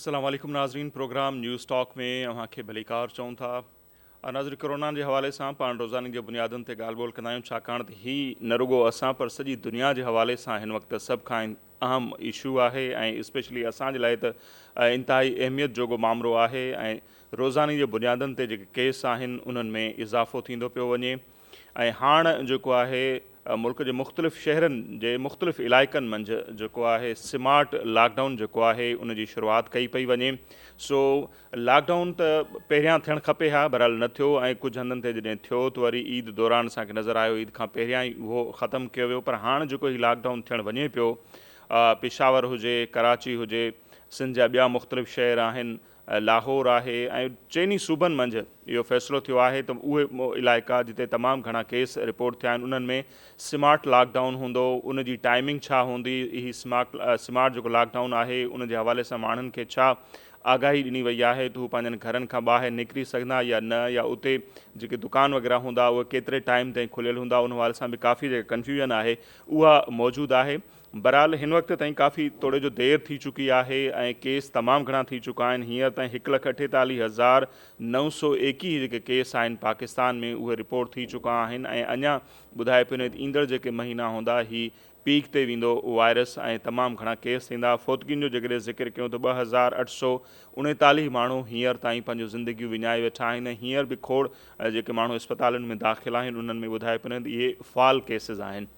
السلام عليڪم ناظرين پروگرام نيوز ٽاڪ ۾ اوهان کي ڀليڪار چئون ٿا ناظرين ڪورونا جي حوالي سان پاڻ روزاني جي بنيادن تي ڳالهه ٻولهه ڪندا آهيون ڇاڪاڻ ته هي نه رڳو اسان پر سڄي دنيا جي حوالي سان هن وقت سڀ کان اهم اشو آهي ۽ اسپيشلي اسان جي لاء ته انتهائي اهميت جوڳو مامرو آهي ۽ روزاني جي بنيادن تي جيڪي ڪيس آهن انهن ۾ اضافو ٿيندو پيو وڃي ۽ هاڻ جيڪو آهي ملڪ جي مختلف شهرن جي مختلف علائقن منجھ جيڪو آهي سمارٽ لاڪ ڊائون جيڪو آهي ان جي شروعات ڪئي پئي وڃي سو لاڪ ڊائون ته پهريان ٿيڻ کپي ها بهرحال نه ٿيو ۽ ڪجهه هنڌن تي جڏهن ٿيو ته وري عيد دوران اسان کي نظر آيو عيد کان پهريان ئي اهو ختم ڪيو ويو پر هاڻ جيڪو هي لاڪ ڊائون ٿيڻ وڃي پيو پشاور هجي ڪراچي هجي سنڌ جا ٻيا مختلف شهر آهن لاهور آهي ۽ چئني صوبن منجهه اهو فيصلو ٿيو آهي ته اهي علائقا جتي تمام گهڻا ڪيس رپورٽ ٿيا آهن انهن ۾ سمارٽ لاڪ ڊائون هوندو ان جي ٽائمنگ ڇا هوندي هي سمارٽ سمارٽ جيڪو لاڪ ڊائون آهي ان جي حوالي سان ماڻهن کي ڇا آگاهي ڏني وئي آهي ته هو پنهنجن گهرن کان ٻاهر نڪري سگهندا يا نه يا اتي جيڪي دڪان وغيره هوندا اهي ڪيتري ٽائيم تائين کليل هوندا ان حوالي سان به ڪافي جيڪا ڪنفيوزن آهي اها موجود آهي بهرحال هن وقت تائين ڪافي توڙي جو دير ٿي چڪي آهي ۽ ڪيس تمام گهڻا ٿي چڪا آهن هينئر تائين هڪ لک اٺيتاليهه هزار نو سؤ ايڪيهه جيڪي ڪيس آهن پاڪستان ۾ اهي رپورٽ ٿي چڪا آهن ۽ اڃا ٻڌائي پيو نه ايندڙ جيڪي مهينا هوندا هي پيڪ تي ويندو وائرس ۽ تمام گهڻا ڪيس ٿيندا، فوتگين جو جيڪڏهن ذڪر ڪيون ته ٻه هزار اٺ سؤ اڻيتاليهه ماڻهو هينئر تائين پنهنجون زندگيون وڃائي ويٺا آهن ۽ هينئر به کوڙ جيڪي ماڻهو اسپتالن ۾ داخل آهن انهن ۾ ٻڌائي پنهند اهي فعال ڪيسز آهن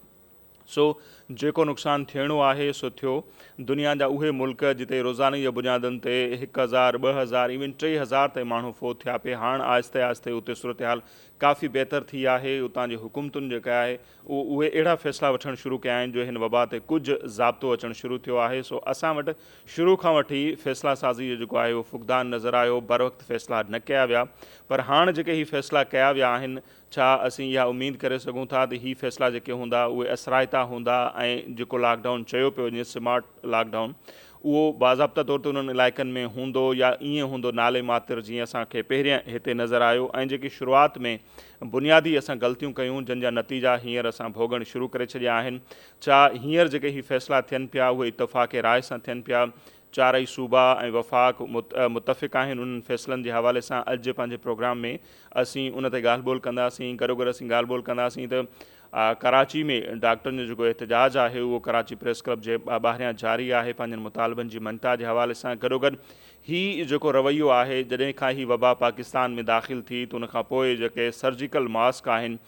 سو جيڪو نقصان ٿيڻو آهي سو ٿيو دنيا جا اهي ملڪ جتي روزاني جي بنيادن تي هڪ هزار ٻه هزار ايون ٽي هزار تائين ماڻهو فوت ٿيا پي هاڻ آهستي آهستي اتي صورتحال ڪافي بهتر ٿي آهي اتان جي حڪومتن جيڪا آهي اهي اهڙا فيصلا وٺڻ شروع ڪيا آهن جو هن وبا تي ڪجهه ضابطو اچڻ شروع ٿيو آهي سو اسان وٽ شروع کان وٺي ئي فيصلا سازي جو جيڪو آهي اهو فقدان نظر آيو بروقت فيصلا نه ڪيا ويا پر هاڻ جيڪي هي فيصلا ڪيا ويا آهن ڇا اسين اها اميد ڪري سگهون ٿا ته هي فيصلا جيڪي هوندا اهي اثرائتا هوندا ۽ جيڪو لاڪ ڊائون چيو پيو وڃي سمارٽ لاڪ ڊائون اهو باضابطه طور تي انهن علائقن ۾ هوندو يا ائين هوندو نالي ماتر جيئن اسان کي پهرين هتي نظر آيو ۽ جيڪي شروعات ۾ بنيادي اسان غلطيون ڪيون جن جا نتيجا هينئر اسان ڀوڳڻ شروع ڪري ڇڏيا آهن. ڇا هينئر جيڪي هي فيصلا ٿين پيا اهي اتفاق راء سان ٿين پيا؟ چارئي صوبا ۽ وفاق متفق آهن انهن فيصلن جي حوالي سان اڄ پنهنجي پروگرام ۾ اسين ان تي ڳالهه ٻولهه ڪنداسين گڏوگڏ اسين ڳالهه ٻولهه ڪنداسين ته ڪراچي ۾ ڊاڪٽرن جو جيڪو احتجاج آهي اهو ڪراچي پريس ڪلب جي ٻاهريان جاري آهي پنهنجن مطالبن جي مڃتا جي حوالي سان گڏوگڏ هي جيڪو رويو آهي جڏهن کان هي وبا پاڪستان ۾ داخل ٿي ته ان کان پوء جيڪي سرجيڪل ماسڪ آهن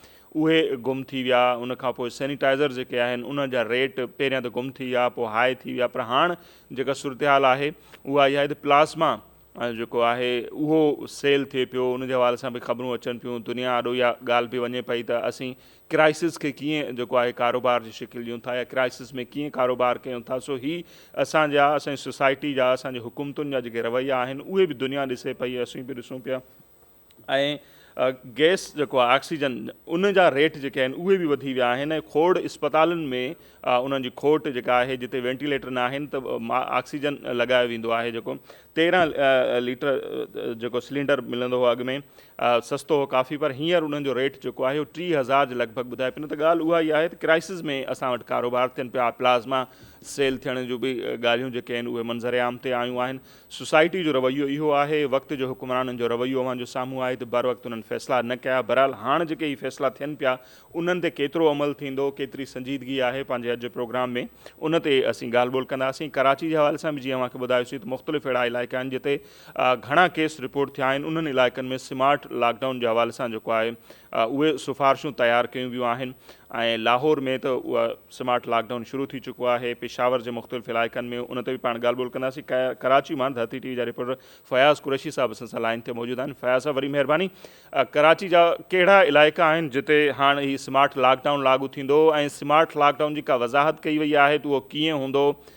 اهي گم ٿي ويا ان کان پوء سينيٽائزر جيڪي آهن انهن جا ريٽ پهريان ته گم ٿي ويا پوء هاء ٿي ويا پر هاڻ جيڪا صورتحال آهي اها اها آهي ته پلازما جيڪو آهي اهو سيل ٿئي پيو ان جي حوالي سان به خبرون اچن پيون دنيا آڏو اها ڳالهه به وڃي پئي ته اسين ڪرائسس کي ڪيئن جيڪو آهي ڪاروبار جي شڪل ڏيون ٿا يا ڪرائسس ۾ ڪيئن ڪاروبار ڪيون ٿا سو هي اسان جا اسان جي سوسائٽي جا اسان جي حڪومتن جا جيڪي رويا آهن اهي به دنيا ڏسي پئي ۽ اسين به ڏسون پيا ۽ گئس جيڪو آهي آڪسيجن ان جا ريٽ جيڪي آهن اهي به وڌي ويا آهن ۽ کوڙ اسپتالن ۾ انهن جي کوٽ جيڪا آهي جتي وينٽيليٽر نه آهن ته آڪسيجن لڳايو ويندو آهي جيڪو تيرهن ليٽر جيڪو سلينڊر ملندو هو اڳ ۾ سستو هو ڪافي پر هينئر انهن جو ريٽ جيڪو آهي اهو ٽيهه هزار جي لڳ ڀڳ ٻڌائي پئي نه ته ڳالهه اها ئي آهي ته ڪرائسز ۾ اسان وٽ ڪاروبار ٿين پيا پلازما سيل ٿيڻ جون به ڳالهيون جيڪي آهن اهي منظر عام تي آيون آهن سوسائٽي جو رويو اهو آهي وقت جو حڪمرانن جو رويو اوهان جو سامهون آهي ته بروقت انهن فيصلا نه ڪيا بهرحال هاڻ جيڪي هي فيصلا ٿين پيا انهن تي ڪيترو عمل ٿيندو ڪيتري سنجيدگي آهي پنهنجي اڄ جي پروگرام ۾ ان تي اسين ڳالهه ٻولهه ڪنداسين ڪراچي جي حوالي سان به جيئن اوهان کي ٻڌايوسين ته مختلف اهڙا علائقا آهن جتي گهڻا ڪيس رپورٽ ٿيا آهن انهن علائقن ۾ سمارٽ لاڪ ڊائون جي حوالي سان جيڪو آهي اهي سفارشون تيار ڪيون ويون آهن ۽ لاهور ۾ ته اهو سمارٽ لاڪ ڊائون شروع ٿي چڪو آهي پشاور جي مختلف علائقن ۾ ان تي به پاڻ ڳالهه ٻولهه ڪنداسين ڪراچي مان ڌرتي ٽي وي جا رپورٽر فياض قريشي صاحب اسان سان لائن تي موجود آهن فياض صاحب وڏي مهرباني ڪراچي جا ڪهڙا علائقا آهن جتي هاڻ هي سمارٽ لاڪ ڊائون لاڳو ٿيندو ۽ سمارٽ لاڪ ڊائون جي ڪا وضاحت ڪئي وئي آهي ته اهو ڪيئن هوندو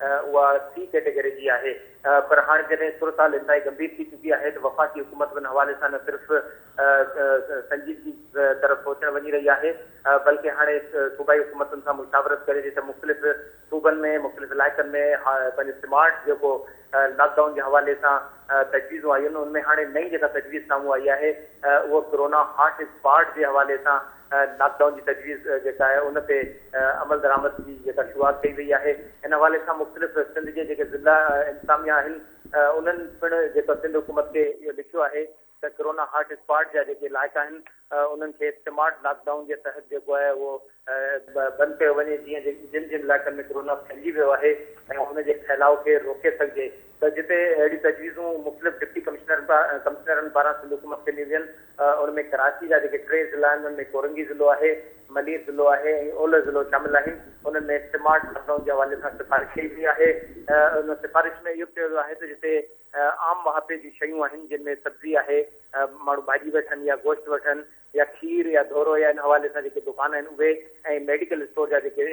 اها سي ڪيٽيگري جي آهي پر هاڻ جڏهن صورتحال انتهائي گنڀير ٿي چڪي آهي ته وفاقي حڪومت ان حوالي سان نه صرف سنجيدگي طرف سوچڻ وڃي رهي آهي بلڪه هاڻي صوبائي حڪومتن سان مشاورت ڪري ٿي ته مختلف صوبن ۾ مختلف علائقن ۾ پنهنجو سمارٽ جيڪو لاڪ ڊائون جي حوالي سان تجويزون آيون ان ۾ هاڻي نئين جيڪا تجويز سامهون آئي آهي اهو ڪورونا هاٽ اسپاٽ جي حوالي سان لاڪ ڊائون جي تجويز جيڪا آهي ان تي عملدرآمد جي جيڪا شروعات ڪئي وئي آهي ان حوالي سان مختلف سنڌ جي جيڪي ضلع انتظاميا آهن انهن پڻ جيڪا سنڌ حڪومت کي اهو لکيو آهي ته ڪورونا هاٽ اسپاٽ جا جيڪي علائقا آهن انهن کي سمارٽ لاڪ ڊائون جي تحت جيڪو آهي اهو بند ڪيو وڃي جيئن جن جن علائقن ۾ ڪورونا ڦهلجي ويو آهي ۽ ان جي ڦهلاء کي روڪي سگهجي. ته جتي اهڙيون تجويزون مختلف ڊپٽي ڪمشنرن پاران سنڌ حڪومت کي ڏنيون وين ان ۾ ڪراچي جا جيڪي ٽي ضلعا آهن ان ۾ ڪورنگي ضلعو آهي، ملير ضلعو آهي ۽ اولهه ضلعو شامل آهن انهن ۾ سمارٽ لاڪ ڊائون جي حوالي سان سفارش ڪئي وئي آهي ان سفارش ۾ اهو به چيو ويو آهي ته جتي عام مهاپي جون شيون آهن جن ۾ سبزي آهي ماڻهو ڀاڄي وٺن يا گوشت وٺن يا کير يا ڌورو يا ان حوالي سان جيڪي دڪان آهن اهي ۽ ميڊيڪل اسٽور جا جيڪي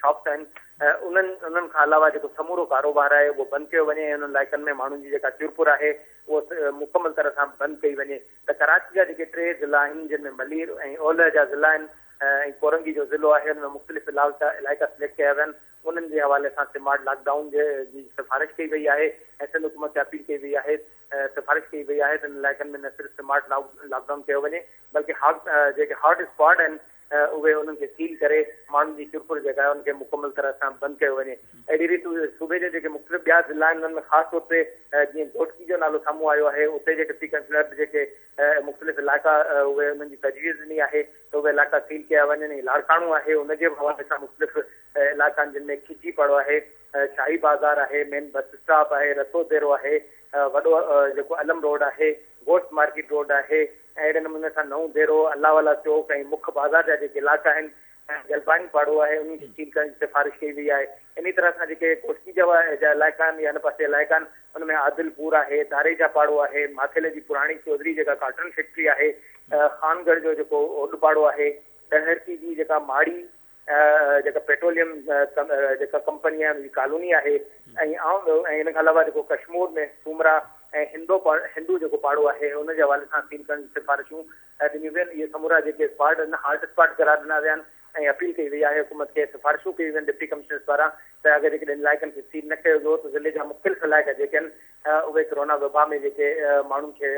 شاپس آهن انهن انهن کان علاوه جيڪو سمورو ڪاروبار آهي اهو بند ڪيو وڃي ۽ انهن علائقن ۾ ماڻهن جي جيڪا چرپر آهي اهو مڪمل طرح سان بند ڪئي وڃي ته ڪراچي جا جيڪي ٽي ضلعا آهن جن ۾ ملير ۽ اولهه جا ضلعا آهن ۽ ڪورنگي جو ضلعو آهي ان ۾ مختلف علائقا علائقا سليڪٽ ڪيا ويا آهن انهن جي حوالي سان سمارٽ لاڪ ڊائون جي سفارش ڪئي وئي آهي ۽ سنڌ حڪومت کي اپيل ڪئي وئي آهي سفارش ڪئي وئي آهي ته ان علائقن ۾ نه صرف سمارٽ لاڪ ڊائون ڪيو وڃي بلڪه جيڪي هاٽ اسپاٽ آهن اهي انهن کي سيل ڪري ماڻهن جي چرپر جيڪا آهي ان کي مڪمل طرح سان بند ڪيو وڃي اهڙي ريت صوبي جا جيڪي مختلف ٻيا ضلع آهن انهن ۾ خاص طور تي جيئن گهوٽڪي جو نالو سامهون آيو آهي اتي جي ڊپٽي ڪمشنر به جيڪي مختلف علائقا اهي انهن جي تجويز ڏني آهي ته اهي علائقا سيل ڪيا وڃن لاڙڪاڻو آهي ان جي حوالي سان مختلف علائقا آهن جن ۾ کجي پاڙو آهي شاهي بازار آهي، مين بس اسٽاپ آهي، رسول ديرو آهي، وڏو جيڪو علم روڊ آهي، گوشت مارڪيٽ روڊ آهي ۽ اهڙي نموني سان نئون ديرو، الله والا چوڪ ۽ مک بازار جا جيڪي علائقا آهن ۽ جلباني پاڙو آهي انهن کي سيل ڪرڻ جي سفارش ڪئي وئي آهي. انهي طرح سان جيڪي ڪوٽڪي جا جا علائقا آهن يا هن پاسي علائقا آهن ان ۾ عادل پور آهي، داريجا پاڙو آهي، ماٿيلي جي پراڻي چوڌري جيڪا ڪاٽن فيڪٽري آهي، خانگڙھ جو جيڪو اوڏ پاڙو آهي، ڏهرڪي جي جيڪا ماڙي جيڪا پيٽروليم جيڪا ڪمپني آهن جي ڪالوني آهي ۽ آئون ٻيو ۽ ان کان علاوه جيڪو ڪشمور ۾ سومرا ۽ هندو هندو جيڪو پاڙو آهي ان جي حوالي سان اپيل ڪرڻ جي سفارشون ڏنيون وين اهي سمورا جيڪي اسپاٽ آهن هاٽ اسپاٽ قرار ڏنا ويا آهن ۽ اپيل ڪئي وئي آهي حڪومت کي سفارشون ڪيون وين ڊپٽي ڪمشنرس پاران ته اگر جيڪڏهن ان علائقن کي سيل نه ڪيو ويو ته ضلعي جا مختلف علائقا جيڪي آهن اهي ڪورونا وبا ۾ جيڪي ماڻهن کي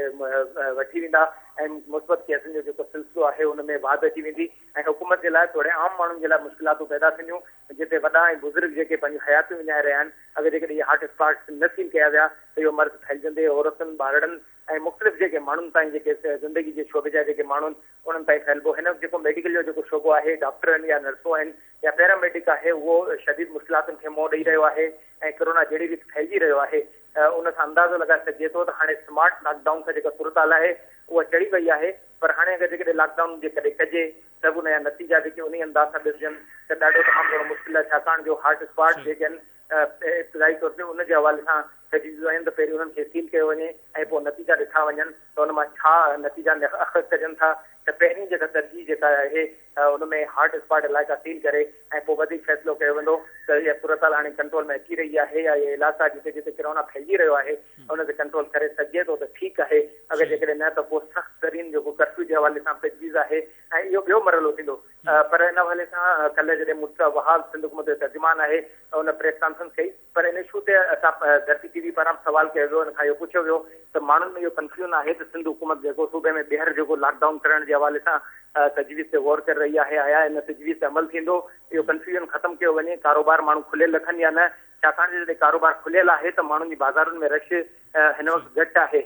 وٺي ويندا ۽ مثبت ڪيسن جو جيڪو سلسلو آهي ان ۾ واڌ اچي ويندي ۽ حڪومت جي لاء توڙي عام ماڻهن جي لاء مشڪلاتون پيدا ٿينديون جتي وڏا ۽ بزرگ جيڪي پنهنجون حياتيون وڃائي رهيا آهن اگر جيڪڏهن اهي هاٽ اسپاٽس نه سيل ڪيا ويا ته اهو مرض ڦهلجندي عورتن ٻارڙن ۽ مختلف جيڪي ماڻهن تائين جيڪي زندگي جي شعبي جا جيڪي ماڻهو آهن انهن تائين ڦهلبو هن وقت جيڪو ميڊيڪل جو جيڪو شعبو آهي ڊاڪٽر آهن يا نرسون آهن يا پيرا ميڊڪ آهي اهو شديد مشڪلاتن کي منهن ڏئي رهيو آهي ۽ ڪرونا جهڙي ريت ڦهلجي رهيو آهي ان سان اندازو لڳائي سگهجي ٿو ته هاڻي سمارٽ لاڪ ڊائون سان جيڪا صورتحال آهي اها چڙهي وئي آهي پر هاڻي اگر جيڪڏهن لاڪ ڊائون جي ڪڏهن ڪجي ته به ان جا نتيجا جيڪي انهي انداز سان ڏسجن ته ڏاڍو تمام گهڻو مشڪل آهي ڇاڪاڻ جو هاٽ اسپاٽ جيڪي آهن ابتدائي طور تي ان جي حوالي سان تجويزون ايون ته پهرين انهن کي سيل ڪيو وڃي ۽ پوء نتيجا ڏٺا وڃن ته ان مان ڇا نتيجا اخذ ڪجن ٿا ته پهرين جيڪا ترجيح جيڪا اهي ته ان ۾ هاٽ اسپاٽ علائقا سيل ڪري ۽ پوء وڌيڪ فيصلو ڪيو ويندو ته اها صورتحال هاڻي ڪنٽرول ۾ اچي رهي آهي يا اهي علائقا جتي جتي ڪرونا ڦهلجي رهيو آهي ان تي ڪنٽرول ڪري سگهجي ٿو ته ٺيڪ آهي اگر جيڪڏهن نه ته پوء سخت ترين جيڪو ڪرفيو جي حوالي سان تجويز آهي ۽ اهو ٻيو مرحلو ٿيندو پر ان حوالي سان ڪلهه جڏهن مون ڏٺو ته وهاب سنڌ حڪومت جو ترجمان آهي ان پريس ڪانفرنس ڪئي پر ان اشو تي اسان ڌرتي ٽي وي پاران به سوال ڪيو ويو، ان کان اهو پڇيو ويو ته ماڻهن ۾ اهو ڪنفيون آهي ته سنڌ حڪومت جيڪو صوبي ۾ ٻيهر جيڪو لاڪ ڊائون ڪرڻ جي حوالي سان تجويز تي غور ڪري رهي آهي آيا ان تجويز تي عمل ٿيندو، اهو ڪنفيوزن ختم ڪيو وڃي، ڪاروبار ماڻهو کليل رکن يا نه، ڇاڪاڻ جو جڏهن ڪاروبار کليل آهي ته ماڻهن جي بازارن ۾ رش هن وقت گهٽ آهي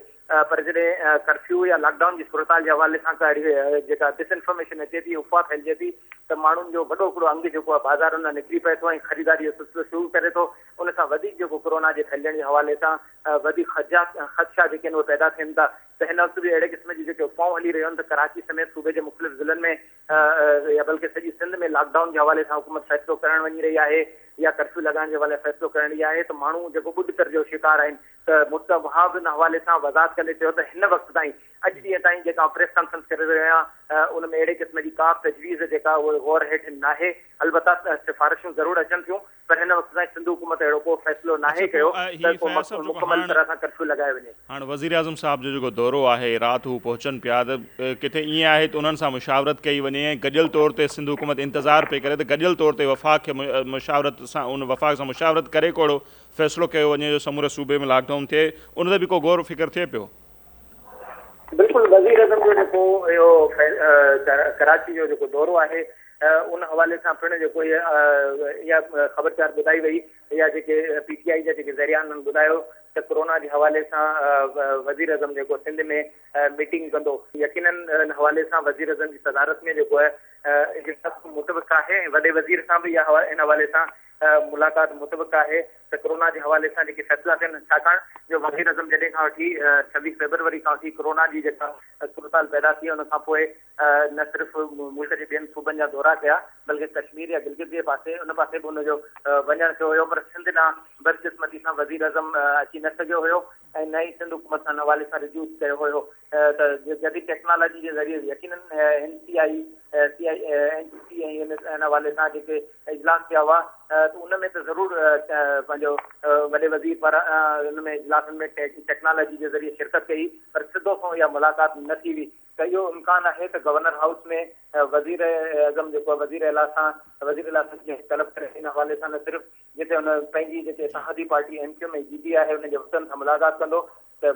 پر جڏهن ڪرفيو يا لاڪ ڊائون جي صورتحال جي حوالي سان ڪا اهڙي جيڪا ڊس انفارميشن اچي ٿي افواهه ڦهلجي ٿي ته ماڻهن جو وڏو هڪڙو انگ جيڪو آهي بازارن ۾ نڪري پئي ٿو ۽ خريداري جو سلسلو شروع ڪري ٿو ان سان وڌيڪ جيڪو ڪورونا جي ڦهلجڻ جي حوالي سان وڌيڪ خدشا جيڪي آهن اهي پيدا ٿين ٿا ته هن وقت به اهڙي قسم جون جيڪي افواهون هلي رهيون آهن ته ڪراچي سميت صوبي جي مختلف ضلعن ۾ يا بلڪه سڄي سنڌ ۾ لاڪ ڊائون جي حوالي سان حڪومت فيصلو ڪرڻ وڃي رهي آهي يا ڪرفيو لڳائڻ جي حوالي فيصلو ڪرڻ رهي آهي ته ماڻهو جيڪو ٻڏتر جو شڪار آهن ته مفته وهاب ان حوالي سان وضاحت ڪندي چيو ته هن وقت تائين اڄ ڏينهن تائين جيڪا آئون پريس ڪانفرنس ڪري رهيو آهيان ان ۾ اهڙي قسم جي ڪا به تجويز جيڪا اهي غور هيٺ ناهي البته سفارشون ضرور اچن ٿيون پر هن وقت تائين سنڌ حڪومت اهڙو ڪو فيصلو ناهي ڪيو ته ڪو مڪمل طرح سان ڪرفيو لڳائي وڃي. هاڻ وزيراعظم صاحب جو جيڪو دورو آهي، رات هو پهچن پيا ته ڪٿي ائين آهي ته انهن سان مشاورت ڪئي وڃي ۽ گڏيل طور تي سنڌ حڪومت انتظار پئي ڪري ته گڏيل طور تي وفاق کي مشاورت سان ان وفاق سان مشاورت ڪري ڪو اهڙو فيصلو ڪيو وڃي جو سموري صوبي ۾ لاڪ ڊائون ٿئي ان تي به ڪو غور فڪر ٿئي پيو. بلڪل وزيراعظم جو جيڪو اهو ڪراچي جو جيڪو دورو آهي ان حوالي سان پڻ جيڪو اها خبرچار ٻڌائي وئي يا جيڪي پي ٽي آئي جا جيڪي ذريعا انهن ٻڌايو ته ڪورونا جي حوالي سان وزيراعظم جيڪو سنڌ ۾ ميٽنگ ڪندو يقينن ان حوالي سان وزيراعظم جي صدارت ۾ جيڪو اجلاس متوقع آهي ۽ وڏي وزير سان به ان حوالي سان ملاقات متوقع آهي ته ڪورونا جي حوالي سان جيڪي فيصلا ٿين ڇاڪاڻ جو وزير اعظم جڏهن کان وٺي ڇويهه فيبروري کان وٺي ڪورونا جي جيڪا صورتحال پيدا ٿي ان کانپوء نه صرف ملڪ جي ٻين صوبن جا دورا ڪيا بلڪه ڪشمير يا گلگت جي پاسي ان پاسي به ان جو وڃڻ ٿيو هيو پر سنڌ ڏانهن بدقسمتي سان وزير اعظم اچي نه سگهيو هيو ۽ نه ئي سنڌ حڪومت سان ان حوالي سان رجوع ڪيو هيو ته جديد ٽيڪنالاجي جي ذريعي به يقيناً N C I C I N C C ۽ N S I ان حوالي سان جيڪي اجلاس ٿيا هئا ته ان ۾ ته ضرور پنهنجو وڏي وزير پاران ان ۾ اجلاسن ۾ ٽيڪنالاجي جي ذريعي شرڪت ڪئي پر سڌو سنئون اها ملاقات نه ٿي هئي ته اهو امڪان آهي ته گورنر هائوس ۾ وزيراعظم جيڪو وزيراعليٰ سان وزيراعليٰ سان جنهن طلب ڪري ان حوالي سان نه صرف جتي هن پنهنجي جيڪي اتحادي پارٽي ايم ڪيو ايم جي بي آهي ان جي وفدن سان ملاقات ڪندو ته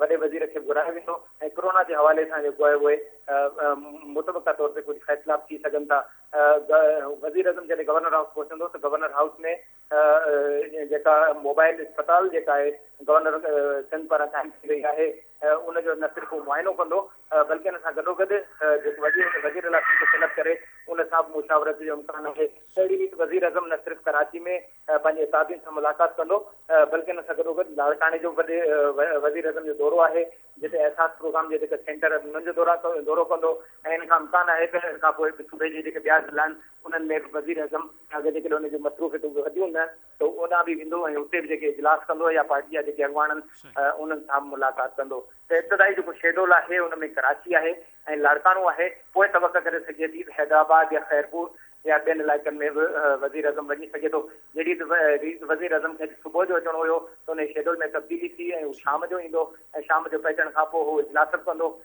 وڏي وزير کي گهرايو ويندو ۽ ڪرونا جي حوالي سان جيڪو آهي اهي متبقا طور تي ڪجهه فيصلا به ٿي سگهن ٿا وزير اعظم جڏهن گورنر هائوس پهچندو ته گورنر هائوس ۾ جيڪا موبائل اسپتال جيڪا آهي گورنر سنڌ پاران قائم ٿي رهي آهي ان جو نه صرف هو معائنو ڪندو بلڪه ان سان گڏوگڏ جيڪو وزير هوندو وزير الاٿي کي سليڪٽ ڪري ان سان به مشاورت جو امڪان آهي اهڙي ريت وزيراعظم نه صرف ڪراچي ۾ پنهنجي اتحادين سان ملاقات ڪندو بلڪه ان سان گڏوگڏ لاڙڪاڻي جو به وزيراعظم جو دورو آهي جتي احساس پروگرام جي جيڪا سينٽر آهن انهن جو دورو ڪندو ۽ ان کان امڪان آهي ته ان کان پوء صوبي جي جيڪي ٻيا ضلعا آهن انهن ۾ به وزيراعظم اگر جيڪڏهن ان جون مصروفيتون به وڌيون نه ته هو اوڏانهن به ويندو ۽ اتي به جيڪي اجلاس ڪندو يا پارٽي جا جيڪي اڳواڻ آهن انهن سان به ملاقات ڪندو ته ابتدائي جيڪو شيڊول آهي ان ۾ ڪراچي آهي ۽ لاڙڪاڻو آهي پوء توقع ڪري سگهجي ٿي ته حيدرآباد يا خيرپور يا ٻين علائقن ۾ به وزيراعظم وڃي سگهي ٿو جهڙي ريت وزيراعظم کي اڄ صبح جو اچڻو هيو ته انهي شيڊول ۾ تبديلي ٿي ۽ هو شام جو ايندو ۽ شام جو پهچڻ کانپوء هو اجلاس به ڪندو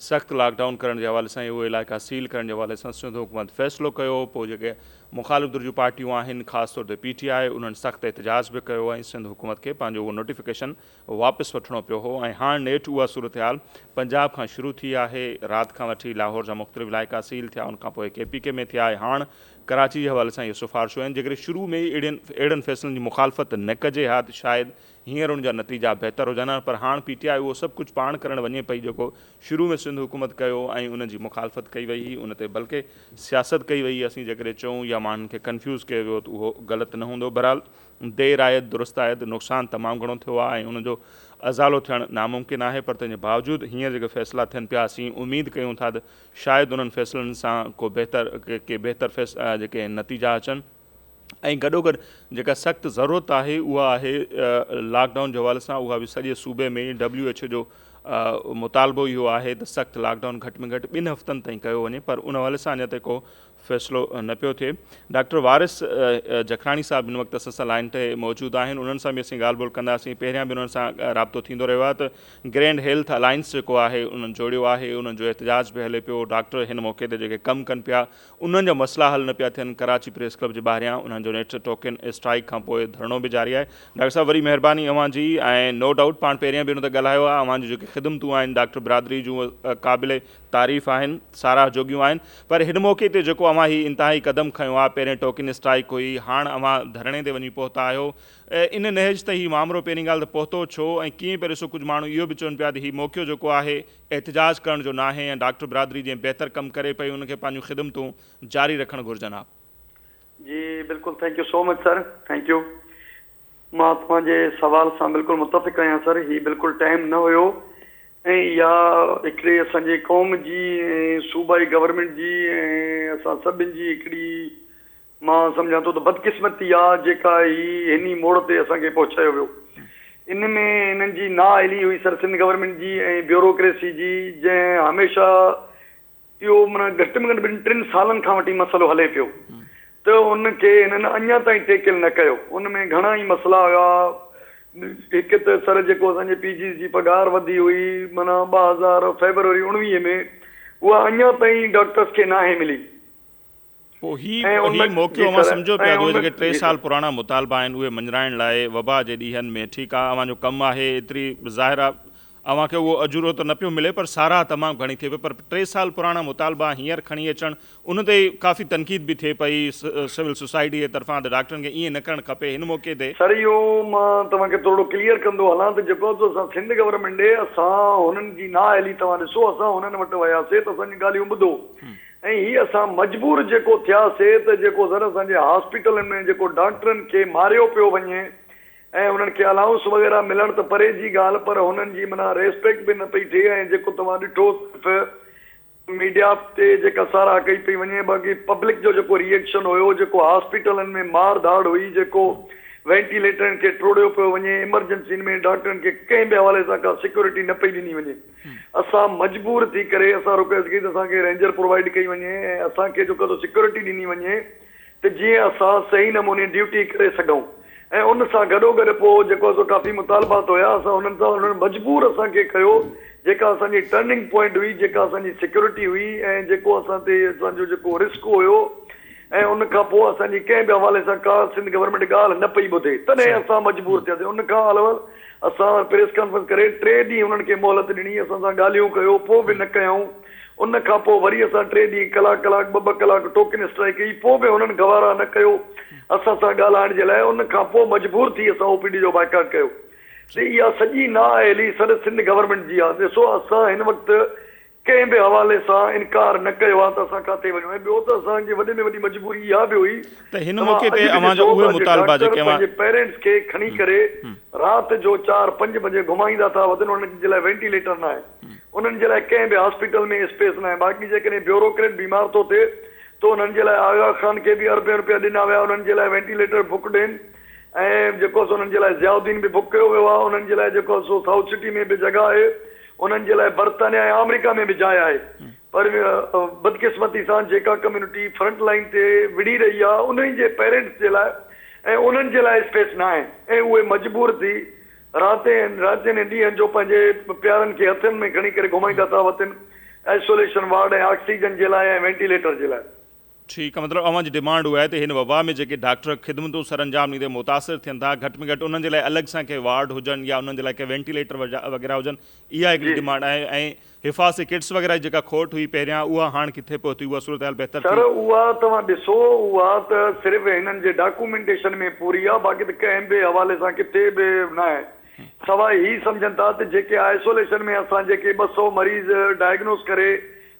سخت لاڪ ڊائون ڪرڻ جي حوالي سان اهي علائقا سيل ڪرڻ جي حوالي سان سنڌ حڪومت فيصلو ڪيو پوء جيڪي مخالف ڌر جون پارٽيون آهن خاص طور تي پي ٽي آء انهن سخت احتجاج به ڪيو ۽ سنڌ حڪومت کي پنهنجو اهو نوٽيفڪيشن واپس وٺڻو پيو هو ۽ هاڻ نيٺ اها صورتحال پنجاب کان شروع ٿي آهي رات کان وٺي لاهور جا مختلف علائقا سيل ٿيا ان کان پوء ڪي پي ڪي ۾ ٿيا ۽ هاڻ ڪراچي جي حوالي سان اهي سفارشون آهن جيڪڏهن شروع ۾ ئي اهڙن فيصلن جي مخالفت نه ڪجي ها ته شايد هينئر ان جا نتيجا بهتر هجن ها پر هاڻ پي ٽي آء اهو سڀ ڪجهه پاڻ ڪرڻ وڃي پئي جيڪو شروع ۾ سنڌ حڪومت ڪيو ۽ ان جي مخالفت ڪئي وئي هئي ان تي بلڪه سياست ڪئي وئي اسين جيڪڏهن چئون يا ماڻهن کي ڪنفيوز ڪيو ويو ته اهو غلط نه هوندو بهرحال دير آيت درست آيت نقصان تمام گهڻو ٿيو آهي ۽ ان جو ازالو ٿيڻ ناممڪن آهي پر تنهن جي باوجود هينئر جيڪي فيصلا ٿين پيا اسين اميد ڪيون ٿا ته شايد انهن فيصلن سان ڪو بهتر ڪي بهتر جيڪي نتيجا اچن. ۽ گڏوگڏ جيڪا سخت ضرورت آهي اها آهي لاڪ ڊائون جي حوالي سان اها به سڄي صوبي ۾ ڊبليو ايڇ او جو مطالبو اهو آهي ته سخت لاڪ ڊائون گهٽ ۾ گهٽ ٻن هفتن تائين ڪيو وڃي پر ان حوالي سان اڃا تائين ڪو فيصلو نه پيو ٿئي ڊاڪٽر وارث جکراڻي صاحب هن وقت اسان سان لائن تي موجود آهن انهن سان به اسين ڳالهه ٻولهه ڪنداسين پهريان به انهن سان رابطو ٿيندو رهيو آهي ته گرينڊ هيلٿ الائنس جيڪو آهي انهن جوڙيو آهي انهن جو احتجاج به هلي پيو ڊاڪٽر هن موقعي تي جيڪي ڪم ڪن پيا انهن جا مسئلا حل نه پيا ٿين، ڪراچي پريس ڪلب جي ٻاهريان انهن جو نيٺ ٽوڪن اسٽرائيڪ کان پوء ڌرڻو به جاري آهي. ڊاڪٽر صاحب وڏي مهرباني اوهان جي ۽ نو ڊائوٽ پاڻ پهريان به ان تي ڳالهايو آهي اوهان جون جيڪي خدمتون آهن ڊاڪٽر برادري جون اهي قابل تعريف آهن ساراهه جوڳيون آهن پر هن موقعي تي جيڪو اوهان هي انتهائي قدم کنيو آهي پهرين ٽوڪن اسٽرائيڪ هئي هاڻ اوهان ڌرڻي تي وڃي پهتا آهيو ان نهج تي هي مامرو پهرين ڳالهه ته پهتو ڇو ۽ ڪيئن پهريو سو ڪجهه ماڻهو اهو به چون پيا ته هي موقعو جيڪو آهي احتجاج ڪرڻ جو ناهي ۽ ڊاڪٽر برادري جئين بهتر ڪم ڪري پئي ان کي پنهنجون خدمتون جاري رکڻ گهرجن ها. جي بلڪل thank you so much sir thank you مان توهان جي سوال سان بلڪل متفق آهيان سر هي بلڪل ٽائيم نه هيو ۽ اها هڪڙي اسان جي قوم جي ۽ صوبائي گورنمينٽ جي ۽ اسان سڀن جي هڪڙي مان سمجهان ٿو ته بدقسمتي آ جيڪا هي هني موڙ تي اسان کي پهچايو ويو. ان ۾ هنن جي نااهلي هئي سر سنڌ گورنمينٽ جي ۽ بيوروڪريسي جي جنهن هميشه اهو معنيٰ گهٽ ۾ گهٽ ٻن ٽن سالن کان وٺي مسئلو هلي پيو ته ان کي هنن اڃان تائين ٽيڪل نه ڪيو. ان ۾ گهڻا ئي مسئلا هيا. هڪ ته سر جيڪو اسان جي پي جيز جي پگهار وڌي هئي معنيٰ ٻه هزار فيبروري اڻويهه ۾ اها اڃان تائين ڊاڪٽرس کي ناهي ملي. پوء هي هي موقعو اوهان سمجهو پيا اهي جيڪي ٽي سال پراڻا مطالبا آهن اهي مڃرائڻ لاء وبا جي ڏينهن ۾ ٺيڪ آ اوهان جو ڪم آهي ايتري ظاهر آ اوهان کي اهو اجورو ته نه پيو ملي پر ساراهه تمام گهڻي ٿئي پئي پر ٽي سال پراڻا مطالبا هينئر کڻي اچڻ ان تي ڪافي تنقيد به ٿئي پئي سول سوسائٽي جي طرفان ته ڊاڪٽرن کي ايئن نه ڪرڻ کپي هن موقعي تي سر اهو مان توهان کي ٿورڙو ڪليئر ڪندو هلان ته جيڪو تو اسان سنڌ گورنمينٽ ڏي اسان هنن جي نااهلي توهان ڏسو اسان هنن وٽ وياسي ته اسان جون ڳالهيون ٻڌو ۽ هي اسان مجبور جيڪو ٿيا سي ته جيڪو زر اسان جي هاسپيٽلن ۾ جيڪو ڊانڪٽرن کي ماريو پيو وڃي ۽ انهن کي الائونس وغيره ملڻ ته پري جي ڳالهه پر هنن جي معنيٰ ريسپيڪٽ به نه پئي ٿئي ۽ جيڪو توهان ڏٺو صرف ميڊيا تي جيڪا ساراهه ڪئي پئي وڃي باقي پبلڪ جو جيڪو ري ايڪشن هيو جيڪو هاسپيٽلن ۾ مار ڌاڙ هئي جيڪو وينٽيليٽرن کي ٽوڙيو پيو وڃي ايمرجنسين ۾ ڊاڪٽرن کي ڪنهن به حوالي سان ڪا سيڪيورٽي نه پئي ڏني وڃي. اسان مجبور ٿي ڪري اسان رڪويسٽ ڪئي ته اسان کي رينجر پرووائيڊ ڪئي وڃي ۽ اسان کي جيڪو سيڪيورٽي ڏني وڃي ته جيئن اسان صحيح نموني ڊيوٽي ڪري سگهون ۽ ان سان گڏوگڏ پوء جيڪو سو ڪافي مطالبات هيا اسان انهن سان انهن مجبور اسان کي ڪيو جيڪا اسان جي ٽرننگ پوائنٽ هئي جيڪا اسان جي سيڪيورٽي هئي ۽ جيڪو اسان تي اسان جو جيڪو رسڪ هيو ۽ ان کان پوء اسان جي ڪنهن به حوالي سان ڪا سنڌ گورنمينٽ ڳالهه نه پئي ٻڌي تڏهن اسان مجبور ٿياسين ان کان علاوه اسان سان پريس ڪانفرنس ڪري ٽي ڏينهن انهن کي مهلت ڏني، اسان سان ڳالهيون ڪيو پوء به نه ڪيائون، ان کان پوء وري اسان ٽي ڏينهن ڪلاڪ ڪلاڪ ٻه ٻه ڪلاڪ ٽوڪن اسٽرائيڪ ڪئي پوء به هنن گوارا نه ڪيو اسان سان ڳالهائڻ جي لاء ان کان پوء مجبور ٿي اسان او پي ڊي جو بائيڪاٽ ڪيو ته اها سڄي نااهلي سڏ سنڌ گورنمينٽ جي آهي ڏسو اسان هن وقت ڪنهن به حوالي سان انڪار نه ڪيو آ ته اسان ڪاٿي وڃون ۽ ٻيو ته اسان جي وڏي ۾ وڏي مجبوري اها به هئي ته هن توهان موقعي تي اڄ به اوهان جا ڏسو اهي ٿا جي مطالبا ڊاڪٽر جيڪي اوهان پنهنجي پيرينٽس کي کڻي ڪري رات جو چار پنج بجي گهمائيندا ٿا وتن انهن جي لاء وينٽيليٽر نه آهن انهن جي لاء ڪنهن به هاسپيٽل ۾ اسپيس نه آهي باقي جيڪڏهن بيوروڪريٽ بيمار ٿو ٿئي ته انهن جي لاء آغا خان کي به اربين روپيا ڏنا ويا انهن جي لاء وينٽيليٽر بڪ ڏين ۽ جيڪو سو انهن جي لاء ضياء الدين به بڪ ڪيو ويو آهي انهن جي لاء جيڪو سو سائوٿ سٽي ۾ به جڳهه آهي انهن جي لاء برطانيا ۽ آمريڪا ۾ به جاء آهي پر بدقسمتي سان جيڪا ڪميونٽي فرنٽ لائين تي وڙهي رهي آهي انهن جي پيرنٽس جي لاء ۽ انهن جي لاء اسپيس نه آهي ۽ اهي مجبور ٿي راتين راتين ۽ ڏينهن جو پنهنجي پيارن کي هٿن ۾ کڻي ڪري گهمائيندا ٿا وتن آئسوليشن وارڊ ۽ آڪسيجن جي لاء ۽ وينٽيليٽر جي لاء. ٺيڪ آ مطلب اوهان جي ڊمانڊ اها آهي ته هن وبا ۾ جيڪي ڊاڪٽر خدمتون سرانجام ڏيندي متاثر ٿين ٿا گهٽ ۾ گهٽ انهن جي لاء الڳ سان ڪي وارڊ هجن يا انهن جي لاء ڪي وينٽيليٽر وغيره هجن اها هڪڙي ڊمانڊ آهي ۽ حفاظتي ڪٽس وغيره جي جيڪا کوٽ هئي پهريان اها هاڻ ڪٿي پهتي اها صورتحال بهتر ٿي؟ سر اها توهان ڏسو اها ته صرف هنن جي ڊاڪومينٽيشن ۾ پوري آهي باقي ته ڪنهن به حوالي سان ڪٿي به ناهي سواء هي سمجهن ٿا ته جيڪي آئسوليشن ۾ اسان جيڪي ٻه سؤ مريض ڊائگنوز ڪري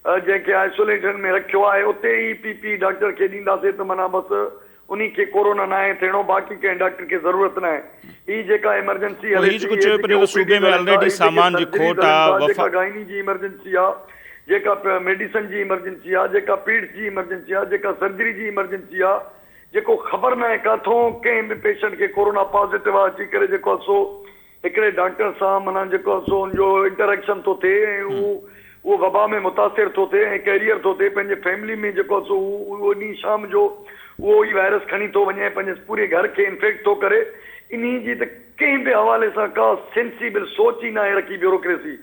جنهن کي آئسوليشن ۾ رکيو آهي اتي ئي پي پي ڊاڪٽر کي ڏينداسين ته معنيٰ بس انهي کي ڪورونا ناهي ٿيڻو باقي ڪنهن ڊاڪٽر کي ضرورت ناهي هي جيڪا ايمرجنسي هلي ٿي هي جيڪي او پي ڊيز هلن ٿا هي جيڪي سرجريز هلن ٿا جيڪا گائني جي ايمرجنسي آ جيڪا ميڊيسن جي ايمرجنسي آ جيڪا پيڊس جي ايمرجنسي آ جيڪا سرجري جي ايمرجنسي آ جيڪو خبر ناهي ڪاٿون ڪنهن به پيشنٽ کي ڪورونا پازيٽو آ اچي ڪري جيڪو آ سو هڪڙي ڊاڪٽر سان معنيٰ جيڪو سو ان جو انٽريڪشن ٿو ٿئي ۽ هو اهو وبا ۾ متاثر ٿو ٿئي ۽ ڪيريئر ٿو ٿئي پنهنجي فيملي ۾ جيڪو سو هو انهي شام جو اهو ئي وائرس کڻي ٿو وڃي ۽ پنهنجي پوري گهر کي انفيڪٽ ٿو ڪري انهي جي ته ڪنهن به حوالي سان ڪا سينسيبل سوچ ئي ناهي رکي بيوروڪريسي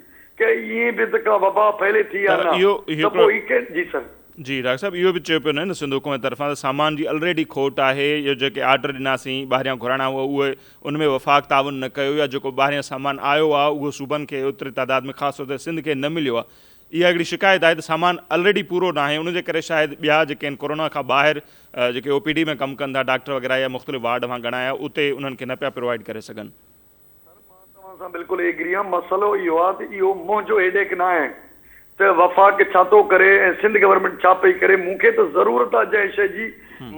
ڪي ائين به ته ڪا وبا ڦهلي ٿي يا نه ته پوء هي ڪير جي سر. جي ڊاڪٽر صاحب اهو به چيو پيو نه سنڌ حڪومت طرفان ته سامان جي الريڊي کوٽ آهي يا جيڪي آرڊر ڏناسين ٻاهريان گهرائڻا هئا اهي ان ۾ وفاق تعاون نه ڪيو يا جيڪو ٻاهريان سامان آيو آهي اهو صوبن کي اوتري تعداد ۾ خاص طور تي سنڌ کي نه مليو آهي اها هڪڙي شڪايت آهي ته سامان الريڊي پورو ناهي ان جي ڪري شايد ٻيا جيڪي ان ڪورونا کان ٻاهر جيڪي او پي ڊي ۾ ڪم ڪن ٿا ڊاڪٽر وغيره يا مختلف وارڊ اوهان ڳڻايا اتي انهن کي نه پيا پرووائيڊ ڪري سگهن. سر مان توهان سان بلڪل ايگري آهيان مسئلو اهو آهي ته اهو منهنجو هيڊيڪ ناهي ته وفاق ڇا ٿو ڪري ۽ سنڌ گورنمينٽ ڇا پئي ڪري مون کي ته ضرورت آ جنهن شئي جي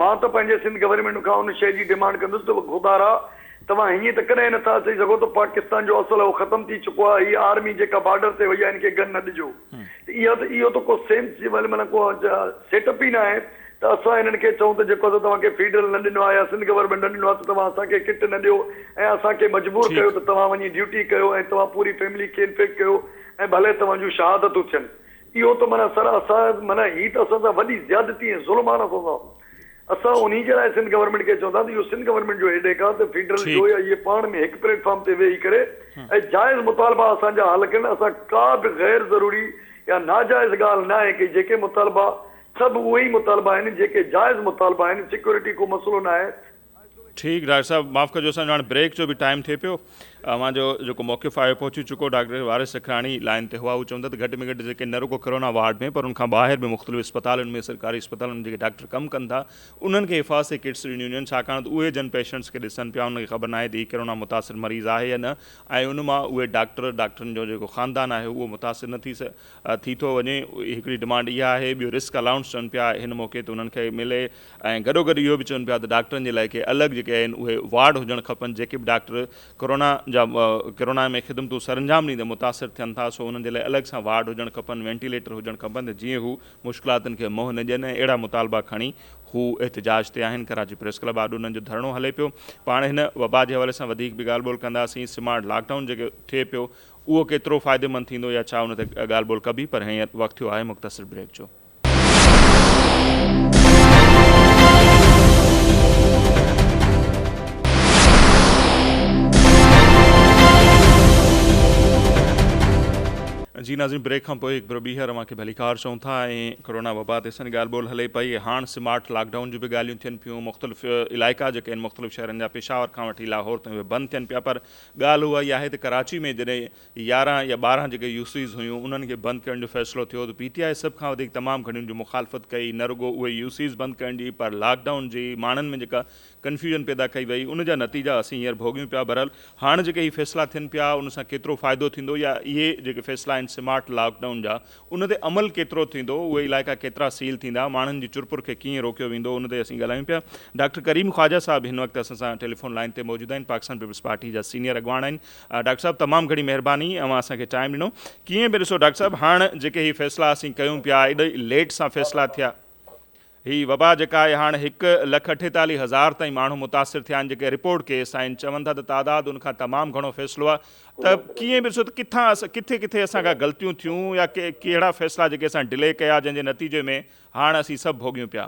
مان ته پنهنجي سنڌ گورنمينٽ کان ان شئي جي ڊيمانڊ ڪندس ته گوبارا توهان هيئن ته ڪڏهن نه ٿا اچي سگهو ته پاڪستان جو اصل اهو ختم ٿي چڪو آ هي آرمي جيڪا بارڊر تي وئي آ هن کي گن نه ڏجو ته اها ته اهو ته ڪو سينس جي ويل معنيٰ ڪو سيٽ اپ ئي نه آهي ته اسان هنن کي چئون ته جيڪو اسان توهان کي فيڊرل نه ڏنو آ يا سنڌ گورنمينٽ نه ڏنو آ ته توهان اسان کي ڪٽ نه ڏيو ۽ اسان کي مجبور ڪيو ته توهان وڃي ڊيوٽي ڪيو ۽ توهان پوري فيملي کي انفيڪٽ ڪيو ۽ ڀلي توهان جون شهادتون ٿين. اهو ته معنيٰ سر اسان معنيٰ هي ته اسان سان وڏي زيادتي ۽ ظلم آهي نه اسان سان. اسان انهي جي لاء سنڌ گورنمينٽ کي چون ٿا ته اهو سنڌ گورنمينٽ جو هيڊيڪ آهي ته فيڊرل جو يا اهي پاڻ ۾ هڪ پليٽ فارم تي ويهي ڪري ۽ جائز مطالبا اسان جا حل ڪن. اسان ڪا به غير ضروري يا ناجائز ڳالهه ناهي ڪئي. جيڪي مطالبا سڀ اهي ئي مطالبا آهن جيڪي جائز مطالبا آهن. سيڪيورٽي ڪو مسئلو ناهي. ٺيڪ ڊاڪٽر صاحب معاف ڪجو اسان جو هاڻي بريڪ جو به ٽائيم ٿئي پيو اوهان جو جيڪو موقف آهي پهچي چڪو ڊاڪٽر وارث سکراڻي لائين تي هئا هو چون ٿا ته گهٽ ۾ گهٽ جيڪي نه رڳو ڪرونا وارڊ ۾ پر ان کان ٻاهر به مختلف اسپتالن ۾ سرڪاري اسپتالن ۾ جيڪي ڊاڪٽر ڪم ڪن ٿا انهن کي حفاظتي ڪٽس ڏنيون وڃن ڇاڪاڻ ته اهي جن پيشنٽس کي ڏسن پيا انهن کي خبر ناهي ته هي ڪرونا متاثر مريض آهي يا نه ۽ ان مان اهي ڊاڪٽر ڊاڪٽرن جو جيڪو خاندان آهي اهو متاثر نه ٿي ٿي ٿو وڃي هڪڙي ڊمانڊ اها آهي ٻيو رسڪ الائونس چون پيا هن موقعي تي انهن کي ملي ۽ گڏوگڏ اهو به چون پيا ته ڊاڪٽرن جي لاء ڪي الڳ جيڪي آهن اهي وارڊ هجڻ کپن جيڪي به ڊاڪٽر ڪورونا جا ڪورونا ۾ خدمتون سرانجام ڏيندي متاثر ٿين ٿا سو انهن جي لاء الڳ سان وارڊ هجڻ کپن وينٽيليٽر هجڻ کپن ته جيئن هو مشڪلاتن کي منهن نه ڏين ۽ اهڙا مطالبا کڻي هو احتجاج تي آهن ڪراچي پريس ڪلب آڏو انهن جو ڌرڻو هلي پيو پاڻ هن وبا جي حوالي سان وڌيڪ به ڳالهه ٻولهه ڪنداسين سمارٽ لاڪ ڊائون جيڪي ٿئي پيو اهو ڪيترو فائديمند ٿيندو يا ڇا ان تي ڳالهه ٻولهه ڪبي پر هينئر وقت ٿيو آهي مختصر بريڪ جو. جي ناظرين بريڪ کان پوء هڪ ڀيرو ٻيهر اوهان کي ڀليڪار چئون ٿا ۽ ڪرونا وبا تي اسان جي ڳالهه ٻولهه هلي پئي هاڻ سمارٽ لاڪ ڊائون جون به ڳالهيون ٿين پيون مختلف علائقا جيڪي آهن مختلف شهرن جا پشاور کان وٺي لاهور تائين اهي بند ٿين پيا پر ڳالهه اها ئي آهي ته ڪراچي ۾ جڏهن يارهن يا ٻارهن جيڪي يو سيز هيون انهن کي بند ڪرڻ جو فيصلو ٿيو ته پي ٽي آء سڀ کان وڌيڪ تمام گهڻي ان جي مخالفت ڪئي نه رڳو اهي يو سيز بند ڪرڻ جي پر لاڪ ڊائون جي ماڻهن ۾ جيڪا ڪنفيوزن پيدا ڪئي وئي ان جا نتيجا اسين هينئر ڀوڳيون پيا بهرحال هاڻ جيڪي هي فيصلا ٿين پيا ان سان ڪيترو فائدو ٿيندو يا اهي جيڪي فيصلا آهن سمارٽ لاڪ ڊائون جا ان تي عمل ڪيترو ٿيندو اهي علائقا ڪيترا سيل ٿيندا ماڻهن جي چرپر کي ڪيئن روڪيو ويندو ان تي اسين ڳالهايون پيا ڊاڪٽر ڪريم خواجه صاحب هن وقت اسان سان ٽيليفون لائين تي موجود آهن پاڪستان پيپلز پارٽي جا سينيئر اڳواڻ آهن ڊاڪٽر صاحب تمام گھڻي مھرباني اوھان اسان کي ٽائيم ڏنو ڪيئن به ڏسو ڊاڪٽر صاحب ھاڻ جيڪي ھي فيصلا اسين ڪيون پيا ايڏي ليٽ سان فيصلا ٿيا ھي وبا جيڪا آھي ھاڻ ھڪ لک اٺيتاليھ ھزار تائين ماڻھو متاثر ٿيا آھن جيڪي رپورٽ ڪيس آھن چون ٿا ته تعداد ان کان تمام گھڻو فيصلو آھي ته ڪيئن به ڏسو ته ڪٿان اسان ڪٿي ڪٿي اسان کان غلطيون ٿيون يا ڪي ڪهڙا فيصلا جيڪي اسان ڊلي ڪيا جنھن جي نتيجي ۾ ھاڻ اسين سڀ ڀوڳيون پيا.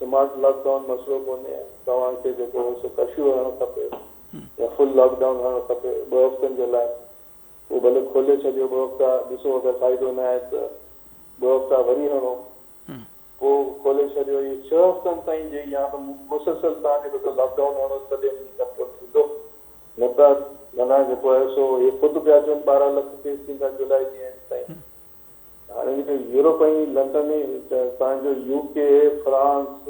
سمارٽ لاڪ ڊائون مسئلو ڪونهي توهان کي جيڪو هو سو ڪرفيو هڻڻ کپي يا فل لاڪ ڊائون هڻڻ کپي ٻه هفتن جي لاء اهو ڀلي کولي ڇڏيو ٻه هفتا ڏسو اگر فائدو نه آهي ته ٻه هفتا وري هڻو پوء کولي ڇڏيو اهي ڇهه هفتن تائين جي يا ته مسلسل توهان جيڪو سو لاڪ ڊائون هڻو تڏهن هي ڪنٽرول ٿيندو نه ته منهن جيڪو آهي سو اهي خود پيا چون ٻارهن لک ڪيس ٿيندا جولاء جي اينڊ تائين هاڻي جيڪڏهن يورپ ۽ لنڊن سان جو U K, France,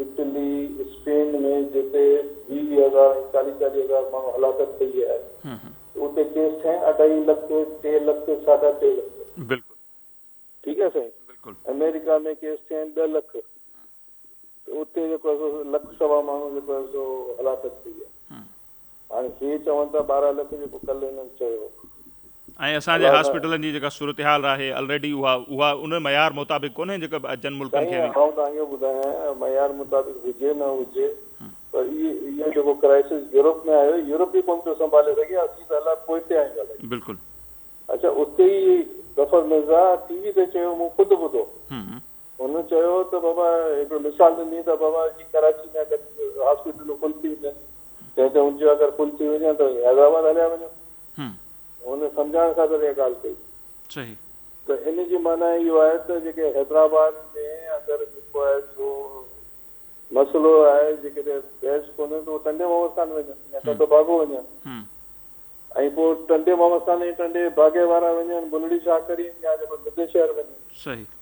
Italy, Spain ۾ جتي ويهه ويهه هزار ۽ چاليهه چاليهه هزار ماڻهو هلاڪت ٿئي ويا آهن ته اتي ڪيس سائين اڍائي لک، ٽي لک، ساڍا ٽي لک. ٺيڪ آهي سائين. امريڪا ۾ ڪيس ٿيا آهن ڏهه لک. ته اتي جيڪو آهي سو لک سوا ماڻهو جيڪو آهي سو هلاڪت ٿي ويا. هاڻي هي چون ٿا ٻارهن لک جيڪو ڪل هنن چيو. ۽ اسان جي هاسپيٽلن جي جيڪا صورتحال آهي الريڊي اها اها ان معيار مطابق ڪونهي جيڪا ٻين ملڪن کي سائين آئون توهان کي اهو ٻڌايان معيار مطابق هجي نه هجي پر اهي اهو جيڪو ڪرائسس يورپ ۾ آيو يورپ ئي ڪونه پيو سنڀالي سگهي اسين ته الاء پوئتي آهيون الائي بلڪل. اچا اتي ئي ظفر مرزا ٽي وي تي چيو مون خود ٻڌو هن چيو ته بابا هڪڙو مثال ڏني ته بابا جي ڪراچي ۾ اگر هاسپيٽلون فل ٿي وڃن تنهن تي هن چيو اگر فل ٿي وڃن ته حيدرآباد هليا وڃو هن سمجهائڻ خاطر اها ڳالهه ڪئي صحيح ته ان جي معنيٰ اهو آهي ته جيڪي حيدرآباد ۾ اگر جيڪو آهي سو مسئلو آهي جيڪڏهن بيڊس ڪونهن ته اهو ٽنڊي محمد خان وڃن يا ٽنڊو باگو وڃن ۽ پوء ٽنڊي محمد خان ۽ ٽنڊي باگي وارا وڃن بلڙي شاهه ڪريم يا جيڪو ننڌ شهر وڃن صحيح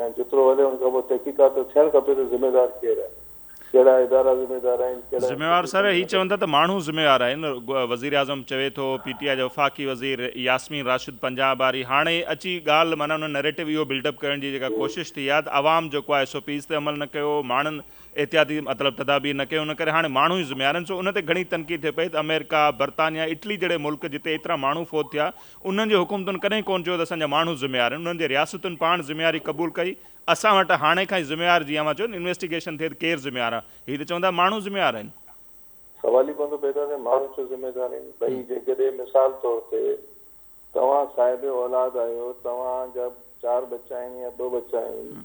يا جيترو هلي ان کان پوء تحقيقات ته ٿيڻ کپي ته ذميوار ڪير آهي؟ ڪهڙا ادارا ذميوار آهن؟ ڪهڙا ذميوار سر انسٽيٽيوشن هي ذميوار چون ٿا ته ماڻهو ذميوار آهن وزيراعظم چوي ٿو پي ٽي آء جا وفاقي وزير ياسمين راشد پنجاب واري هاڻي اچي ڳالهه معنيٰ انهن نريٽو اهو بلڊ اپ ڪرڻ جي جيڪا ڪوشش ٿي آهي ته عوام جيڪو آهي ايس او پيز تي عمل نه ڪيو ماڻهن احتياطي مطلب تدابير نه ڪيون ان ڪري هاڻي ماڻهو ئي ذميوار آهن سو ان تي گهڻي تنقيد ٿئي پئي ته امريڪا برطانيا اٽلي جهڙي ملڪ جتي ايترا ماڻهو فوت ٿيا انهن جي حڪومتن ڪڏهن ڪونه چيو ته اسان جا ماڻهو ذميوار آهن، انهن جي رياستن پاڻ ذميواري قبول ڪئي، اسان وٽ هاڻي کان ئي ذميوار جيئن اوهان چيو نه انويسٽيگيشن ٿئي ته ڪير ذميوار آهي، هي ته چون ٿا ماڻهو ذميوار آهن. سوال ئي ڪونه ٿو پيدا ٿئي ماڻهو ڇو ذميوار آهن. ٻئي جيڪڏهن مثال طور تي توهان صاحب اولاد آهيو، توهان جا چار ٻچا آهن يا ٻه ٻچا آهن،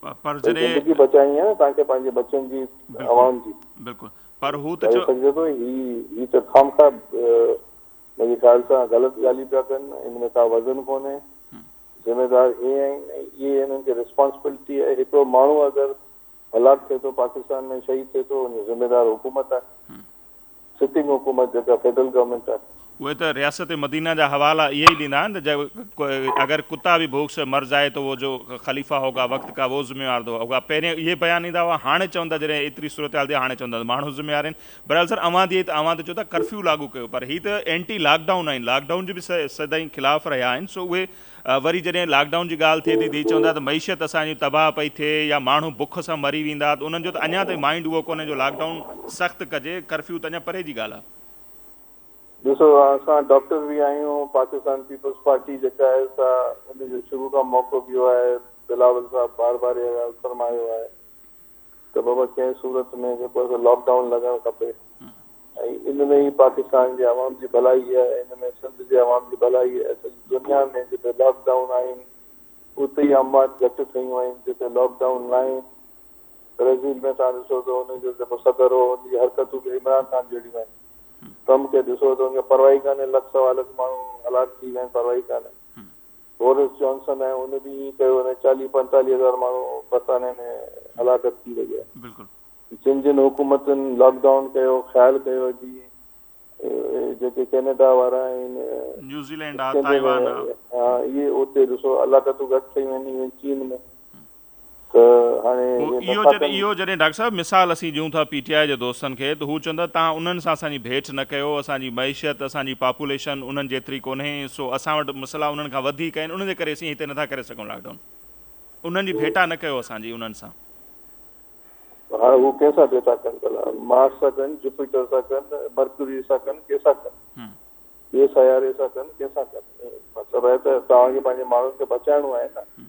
پر جڏهن. هي زندگي بچائڻي آهي نه توهان کي پنهنجي بچن جي اوهان جي. بلڪل پر هو ته چيو. چئي سگهجي ٿو هي هي ته خامخواه منهنجي خيال سان غلط ڳالهيون پيا ڪن ان ۾ ڪا وزن ڪونهي ذميدار هي آهن ۽ اهي هنن کي رسپانسبلٽي آهي هڪڙو ماڻهو اگر هلاڪ ٿئي ٿو پاڪستان ۾ شهيد ٿئي ٿو ان جو ذميدار حڪومت آهي سٽنگ حڪومت جيڪا فيڊرل گورنمينٽ آهي. اهي ته رياست مدينه جا حوالا اهي ئي ڏيندا آهن ته اگر ڪتا ڀي ڀوڪ سي مر جائي تو وو جو خليفه هوگا وقت ڪا وو ذميوار دو هوگا پهرين اهي بيان ايندا هئا هاڻي چون ٿا جڏهن ايتري صورتحال ٿي هاڻي چون ٿا ته ماڻهو ذميوار آهن بهرحال سر اوهان ٿي ته اوهان ته چئو ٿا ڪرفيو لاڳو ڪيو پر هي ته اينٽي لاڪ ڊائون آهن لاڪ ڊائون جي به سدائين خلاف رهيا آهن سو اهي وري جڏهن لاڪ ڊائون جي ڳالهه ٿئي ٿي ڌي چوندا ته معيشت اسان جي تباهه پئي ٿئي يا ماڻهو بک سان مري ويندا ته انهن جو ته اڃا تائين مائينڊ اهو ڪونهي جو لاڪ ڊائون سخت ڪجي ڪرفيو ته اڃا پري جي ڳالهه آهي. ڏسو اسان ڊاڪٽر به آهيون پاڪستان پيپلز پارٽي جيڪا آهي سا ان جو شروع کان موقف اهو آهي بلاول صاحب بار بار اها ڳالهه فرمايو آهي ته بابا ڪنهن صورت ۾ جيڪو آهي سو لاڪ ڊائون لڳڻ کپي ۽ ان ۾ ئي پاڪستان جي عوام جي ڀلائي آهي ۽ ان ۾ سنڌ جي عوام جي ڀلائي آهي. سڄي دنيا ۾ جتي لاڪ ڊائون آهن اتي ئي اموات گهٽ ٿيون آهن، جتي لاڪ ڊائون ناهي برازيل ۾ توهان ڏسو ته ان جو جيڪو صدر هو ان جي حرڪتون به عمران خان جهڙيون آهن. ٽرمپ کي ڏسو ته ان کي پرواهي ڪانهي لک سوا لک ماڻهو هلاڪ ٿي ويا آهن پرواهي ڪانهي. بورس جانسن ۽ ان ڏينهن ئي ته اهي چاليهه پنجتاليهه هزار ماڻهو برطانيه ۾ هلاڪت ٿي ويا. بلڪل. جن جن حڪومتن لاڪ ڊائون ڪيو خيال ڪيو جي جيڪي ڪينيڊا وارا آهن نيوزيلينڊ آ تائيوان آ. اهي اتي ڏسو هلاڪتون گهٽ ٿي وينديون چين ۾ ته هاڻي اهي نفاقن جي. اهو جڏهن ڊاڪٽر صاحب مثال اسين ڏيون ٿا پي ٽي آء جي دوستن کي ته هو چون ٿا تهان انهن سان اسان جي ڀيٽ نه ڪيو اسان جي معيشت اسان جي پاپوليشن انهن جيتري ڪونهي سو اسان وٽ مسئلا انهن کان وڌيڪ آهن ان جي ڪري اسين هتي نٿا ڪري سگهون لاڪ ڊائون انهن جي ڀيٽا نه ڪيو اسان جي انهن سان. هاڻي هو ڪنهن سان ڀيٽا ڪن ڀلا مارس سان ڪن جوپيٽر سان ڪن مرڪوري سان ڪن ڪنهن سان ڪن ٻئي سياري سان ڪن ڪنهن سان ڪن مطلب آهي ته توهان کي پنهنجي ماڻهن کي بچائڻو آهي نه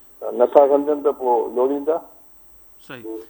نٿا سمجهن ته پوء لوڙيندا. صحيح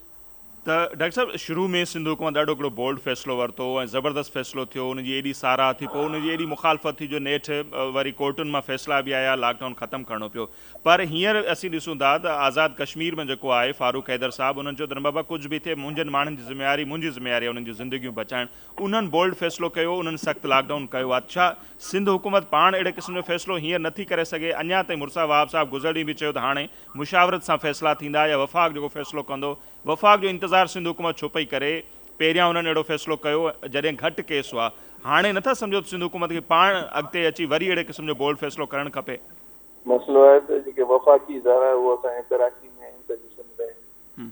ته ڊاڪٽر صاحب شروع ۾ سنڌ حڪومت ڏاڍو هڪڙو بولڊ فيصلو ورتو ۽ زبردست فيصلو ٿيو ان جي ايڏي ساراهه ٿي پوء ان جي ايڏي مخالفت ٿي جو نيٺ وري ڪورٽن مان فيصلا به آيا لاڪ ڊائون ختم ڪرڻو پيو پر هينئر اسين ڏسون ٿا ته آزاد ڪشمير ۾ جيڪو آهي فاروق حيدر صاحب انهن چيو ته نه بابا ڪجهه به ٿئي منهنجن ماڻهن جي ذميواري منهنجي ذميواري آهي انهن جون زندگيون بچائڻ انهن بولڊ فيصلو ڪيو انهن سخت لاڪ ڊائون ڪيو آ ڇا سنڌ حڪومت پاڻ اهڙي قسم جو فيصلو هينئر نه ٿي ڪري سگهي اڃان تائين مرزا وهاب صاحب گذر ڏينهن به چيو ته هاڻي مشاورت سان فيصلا ٿيندا يا وفاق جيڪو فيصلو ڪندو وفاق جو انتظار سنڌ حڪومت ڇو پئي ڪري پهريان انهن اهڙو فيصلو ڪيو جڏهن گهٽ ڪيس هئا هاڻي نه ٿا سمجهو ته سنڌ حڪومت کي پاڻ اڳتي اچي وري اهڙي قسم جو بولڊ فيصلو ڪرڻ کپي. مسئلو آهي ته جيڪي وفاقي ادارا هئا سا ۽ ڪراچي ۾ آهن سڄي سنڌ ۾ آهن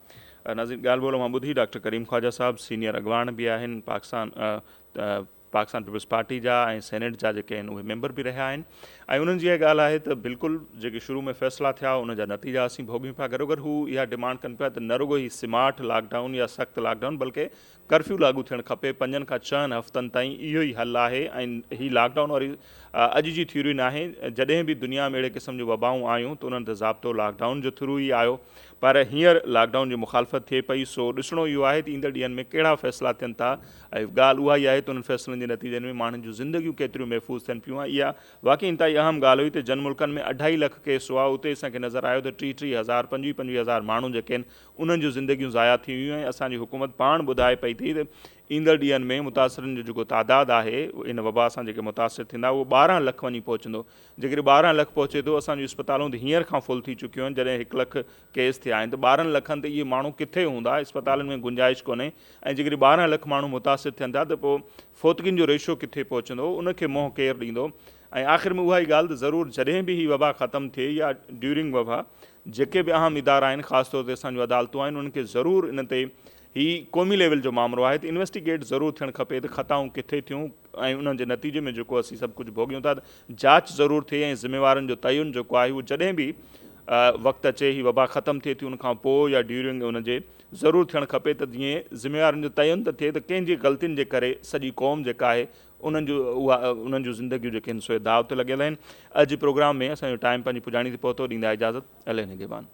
ناظرين ڳالهه ٻولهه اوهان ٻڌي ڊاڪٽر ڪريم خواجه صاحب سينيئر اڳواڻ به آهن پاڪستان پاڪستان پيپلز پارٽي جا ۽ سينيٽ جا جيڪي آهن اهي ميمبر به رهيا آهن ۽ انهن جي اها ڳالهه آهي ته بلڪل جيڪي شروع ۾ فيصلا ٿيا ان جا نتيجا اسين ڀوڳيون پيا گڏوگڏ هو اها ڊيمانڊ ڪن پيا ته نه رڳو هي سمارٽ لاڪ ڊائون يا سخت لاڪ ڊائون بلڪه ڪرفيو لاڳو ٿيڻ کپي، پنجن کان ڇهن هفتن تائين اهو ئي حل آهي ۽ هي لاڪ ڊائون واري اڄ جي ٿيوري ناهي، جڏهن به دنيا ۾ اهڙي قسم جون وبائون آيون ته انهن تي ضابطو لاڪ ڊائون جي ٿرو ئي آيو پر هينئر لاڪ ڊائون جي مخالفت ٿئي پئي سو ڏسڻو اهو آهي ته ايندڙ ڏينهن ۾ ڪهڙا فيصلا ٿين ٿا ۽ ڳالهه اها ئي آهي ته انهن فيصلن جي نتيجن ۾ ماڻهن جون زندگيون ڪيتريون محفوظ ٿين پيون ۽ اها واقعي انتهائي اهم ڳالهه هئي ته جن ملڪن ۾ اڍائي لک ڪيس هئا اتي اسان کي نظر آيو ته ٽيهه ٽيهه هزار پنجويهه پنجويهه هزار ماڻهو جيڪي آهن انهن جون زندگيون ضايع ٿي ويون ۽ اسان جي حڪومت پاڻ ٻڌائي پئي ٿي ته ايندڙ ڏينهن ۾ متاثرن جو جيڪو تعداد آهي ان وبا سان جيڪي متاثر ٿيندا اهو ٻارهن لک وڃي پهچندو جيڪڏهن ٻارهن لک پهچي ٿو اسان جون اسپتالون ته هينئر کان فل ٿي چڪيون آهن جڏهن هڪ لک ڪيس ٿيا آهن ته ٻارهن لکن تي اهي ماڻهو ڪٿي هوندا اسپتالن ۾ گنجائش ڪونهي ۽ جيڪڏهن ٻارهن لک ماڻهو متاثر ٿين ٿا ته پوء فوتگين جو ريشو ڪٿي پهچندو ان کي منهن ڪير ڏيندو ۽ آخر ۾ اها ئي ڳالهه ته ضرور جڏهن به هي وبا ختم ٿئي يا ڊيورنگ وبا جيڪي به اهم ادارا آهن خاص طور تي اسان جون عدالتون آهن انهن کي ضرور ان تي هي قومي ليول جو مامرو آهي ته انويسٽيگيٽ ضرور ٿيڻ کپي ته خطائون ڪٿي ٿيون ۽ انهن جي نتيجي ۾ جيڪو اسين سڀ ڪجهه ڀوڳيون ٿا ته جاچ ضرور ٿئي ۽ ذميوارن جو تعين جيڪو آهي اهو جڏهن به وقت اچي هي وبا ختم ٿئي ٿي ان کان پوء يا ڊيورنگ ان جي ضرور ٿيڻ کپي ته جيئن ذميوارن جو تعين ته ٿئي ته ڪنهن جي غلطين جي ڪري سڄي قوم جيڪا آهي انهن جون اها انهن جون زندگيون جيڪي هن سوئي داء تي لڳيل آهن. اڄ جي پروگرام ۾ اسان جو ٽائيم پنهنجي پڄاڻي تي پهتو ڏيندا اجازت علي نگهبان.